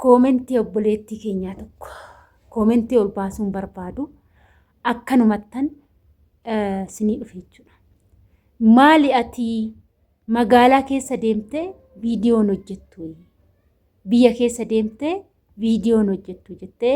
Koomentii obboleettii keenyaa tokko koomentii ol baasuun barbaadu akkanumattan sinii dhufe jechuudha. Maali ati magaalaa keessa deemtee viidiyoon hojjettu biyya keessa deemtee viidiyoon hojjettu jettee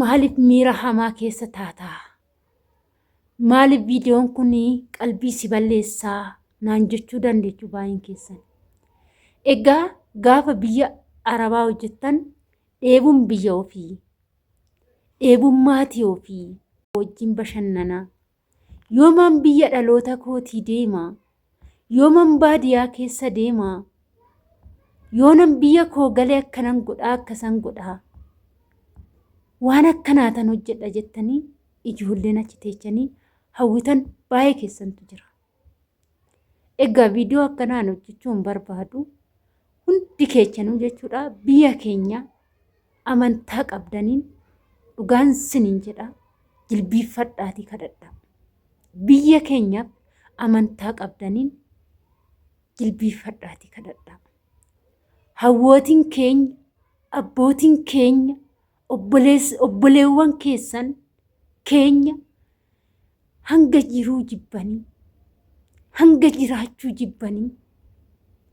Maaliif miira hamaa keessa taataa? Maaliif viidiyoon kun qalbii si balleessaa naan jechuu dandeechu baay'een keessan. Egaa gaafa biyya arabaa hojjettan dheebuun biyya ofii, dheebuun maatii ofii wajjin bashannanaa Yooman biyya dhaloota kootii deema? Yooman baadiyaa keessa deema? Yoonan biyya koo gale akkanan godhaa akkasan godhaa? Waan akkanaa tan hojjedha jettanii ijoolleen achi teechanii hawwitan baay'ee keessantu jira. Egaa viidiyoo akkanaan hojjechuun barbaadu hundi keechanuu jechuudha biyya keenya amantaa qabdaniin dhugaan siniin jedha jilbiiffadhaatii kadhadha. Biyya keenya amantaa qabdaniin jilbiiffadhaatii kadhadha. Hawwootiin keenya, abbootiin keenya, obboleewwan keessan keenya hanga jiruu jibbanii hanga jiraachuu jibbanii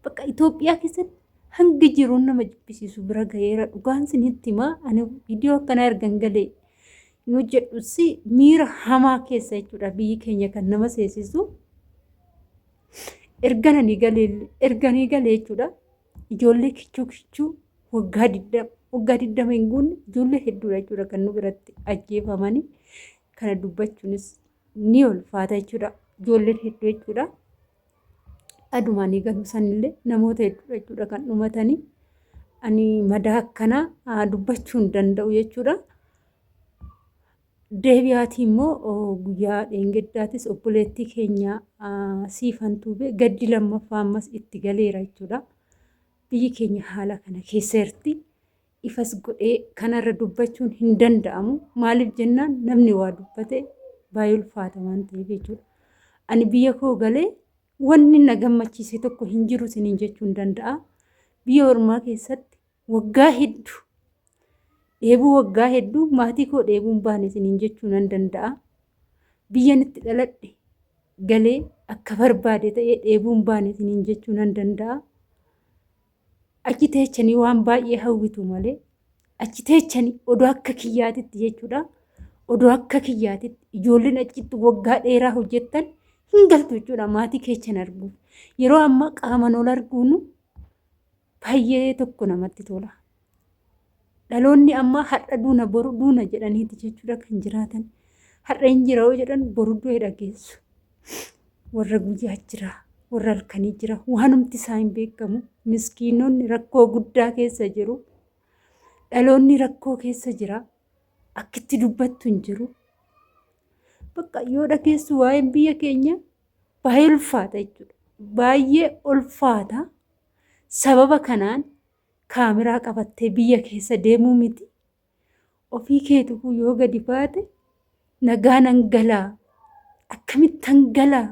bakka Itoophiyaa keessatti hanga jiruun nama jibbisiisu bira gaheera dhugaan sinitti himaa ani viidiyoo akkanaa ergan galee hin hojjedhusi miira hamaa keessa jechuudha biyyi keenya kan nama seesisu ergananii galee erganii galee jechuudha. Ijoollee kichuu kichuu waggaa digdama waggaa digdama hin guunne ijoollee hedduudha jechuudha kan nu biratti ajjeefamanii kana dubbachuunis ni ulfaata jechuudha ijoolleen hedduu jechuudha. Adumaan eegalu sanillee namoota hedduudha jechuudha kan dhumatanii ani madaa akkanaa dubbachuu hin danda'u jechuudha. deebi'aatii immoo guyyaa dheengeddaatis obboleettii keenya siifan tuubee gaddi lammaffaa ammas itti galeera jechuudha. Biyyi keenya haala kana keessa jirti. Ifas godhee kanarra dubbachuun hin danda'amu. Maaliif jennaan namni waa dubbate baay'ee ulfaata waan ta'eef jechuudha. Ani biyya koo galee wanni na gammachiise tokko hin jiru isiniin jechuun danda'a. Biyya ormaa keessatti Waggaa heddu dheebuu waggaa hedduu maatii koo dheebuun baane isiniin jechuu nan danda'a. Biyyan itti dhaladhe galee akka barbaade ta'ee dheebuun baane isiniin jechuu nan danda'a. Achi teechanii waan baay'ee hawwitu malee achi teechanii odoo akka kiyyaatitti jechuudha. Odoo akka kiyyaatitti ijoolleen achitti waggaa dheeraa hojjettan hin galtu jechuudha maatii keechan arguuf. Yeroo ammaa qaaman ol arguunu baay'ee tokko namatti tola. Dhaloonni ammaa har'a duuna boru duuna jedhaniiti jechuudha kan jiraatan. Har'a hin jira yoo jedhan boru du'ee dhageessu. Warra guyyaa jira, warra halkanii jira, waanumti isaa hin beekamu. Miskiinonni rakkoo guddaa keessa jiru. Dhaloonni rakkoo keessa jira. Akkitti dubbattu hin jiru. Bakka yoo dhageessu waa'een biyya keenya baay'ee ulfaata jechuudha. Baay'ee ulfaata. Sababa kanaan kaameraa qabattee biyya keessa deemuu miti ofii keetuu yoo gadi baate nagaa nan galaa akkamittan galaa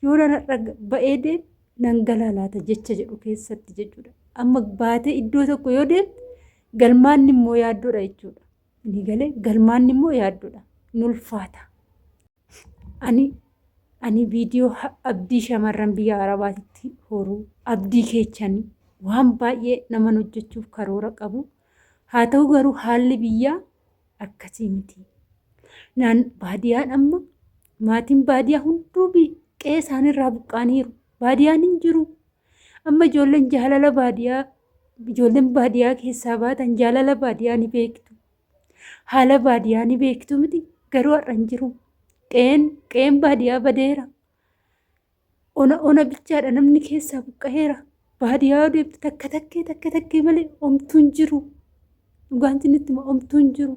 yoo narra ba'ee deem nan galaa laata jecha jedhu keessatti jechuudha. Amma baatee iddoo tokko yoo deemte galmaanni immoo yaaddoodha jechuudha. Inni galee galmaanni immoo yaaddoodha. Nulfaata. Ani ani viidiyoo abdii shamarran biyya arabaatitti horuu abdii keechani waan baay'ee naman hojjechuuf karoora qabu haa ta'u garuu haalli biyyaa akkasii miti naan baadiyaan amma maatiin baadiyaa hunduu qe'ee isaaniirraa buqqaaniiru baadiyaan hin jiru amma ijoolleen jaalala baadiyaa ijoolleen baadiyaa keessaa baatan jaalala baadiyaa ni beektu Haala baadiyaa ni beektu miti garuu har'a hin jiru. Qe'een qe'een baadiyaa badeera. Ona ona bichaadha namni keessaa buqqa'eera. Baadiyaa deemtu takka takkee takka takkee malee omtuu hin jiru. Dhugaan sinitti hima omtuu hin jiru.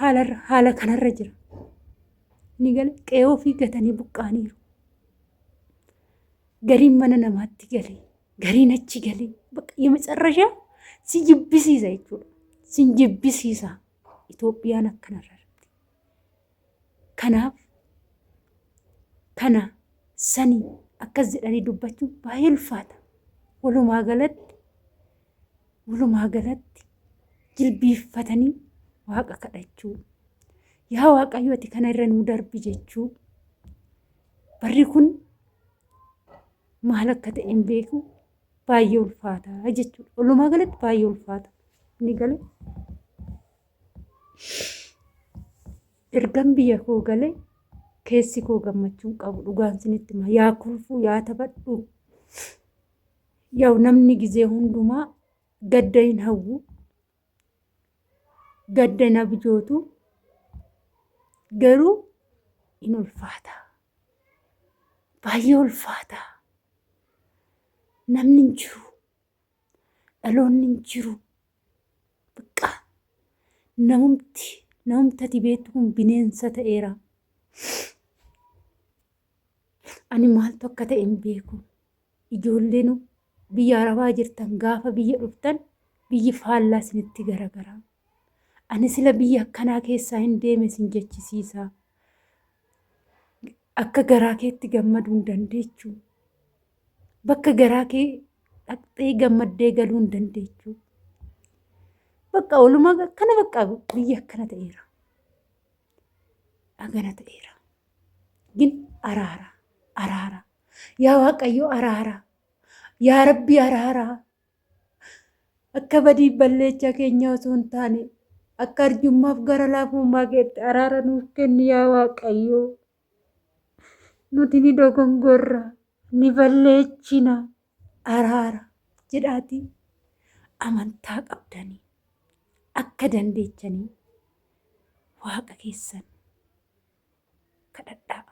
Haalarra haala kanarra jira. Ni gala qe'ee ofii gatanii buqqa'aniiru. Gariin mana namaatti galee Gariin achi galee bakka yemecarrashaa si jibbisiisa jechuudha. Si jibbisiisa Itoophiyaan akkanarra jirti. Kanaaf kana sani akkas jedhanii dubbachuun baay'ee ulfaata. Walumaa galatti walumaa galatti jilbiiffatanii waaqa kadhachuu. Yaa waaqayyo ati kana irra nuu darbi jechuu. Barri kun maal akka ta'e hin beeku baay'ee ulfaata jechuudha. Walumaa galatti baay'ee ulfaata. Inni gale ergan biyya koo gale keessi koo gammachuu hin qabu dhugaan sinitti hima yaa kolfuu yaa taphadhu yaa'u namni gizee hundumaa gadda hin hawwu gadda na bijootu garuu in ulfaata. Baay'ee ulfaata. Namni hin jiru. Dhaloonni hin jiru. Baqqaa namumti namumtati beektu kun bineensa ta'eera. Ani maaltu akka ta'e hin beeku. Ijoollenu biyya arabaa jirtan gaafa biyya dhuftan biyyi faallaa isinitti garagara. Ani sila biyya akkanaa keessaa hin deeme isin jechisiisa. Akka garaa keetti gammaduu hin dandeechu. Bakka garaa kee dhaqxee gammaddee galuu hin dandeechu. Bakka oluma akkana bakka biyya akkana ta'eera. Agana ta'eera. Gin araara araara Yaa Waaqayyo araaraa. Yaa Rabbi araaraa. Akka badii balleechaa keenyaa osoo hin taane akka arjummaaf gara laafummaa keetti araara nuuf kenni yaa Waaqayyo. Nuti ni dogongorra, ni balleechina, araara jedhaatii amantaa qabdanii akka dandeechanii waaqa keessan kadhadhaa.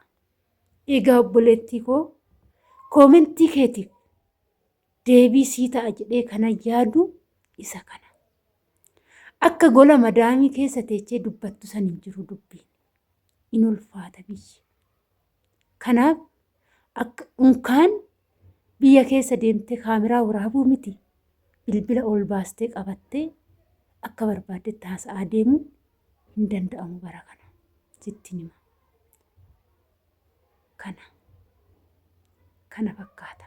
Egaa obboleettii koo koomentii keetiif deebii sii ta'a jedhee kanan yaadu isa kana. Akka gola madaamii keessa teechee dubbattu san hin jiru dubbiin. In ulfaata biyyi. Kanaaf akka unkaan Biyya keessa deemtee kaameraa waraabuu miti bilbila ol baastee qabattee akka barbaaddetti haasa'aa deemuun hin danda'amu bara kana sittiin hima. Kana kana fakkaata.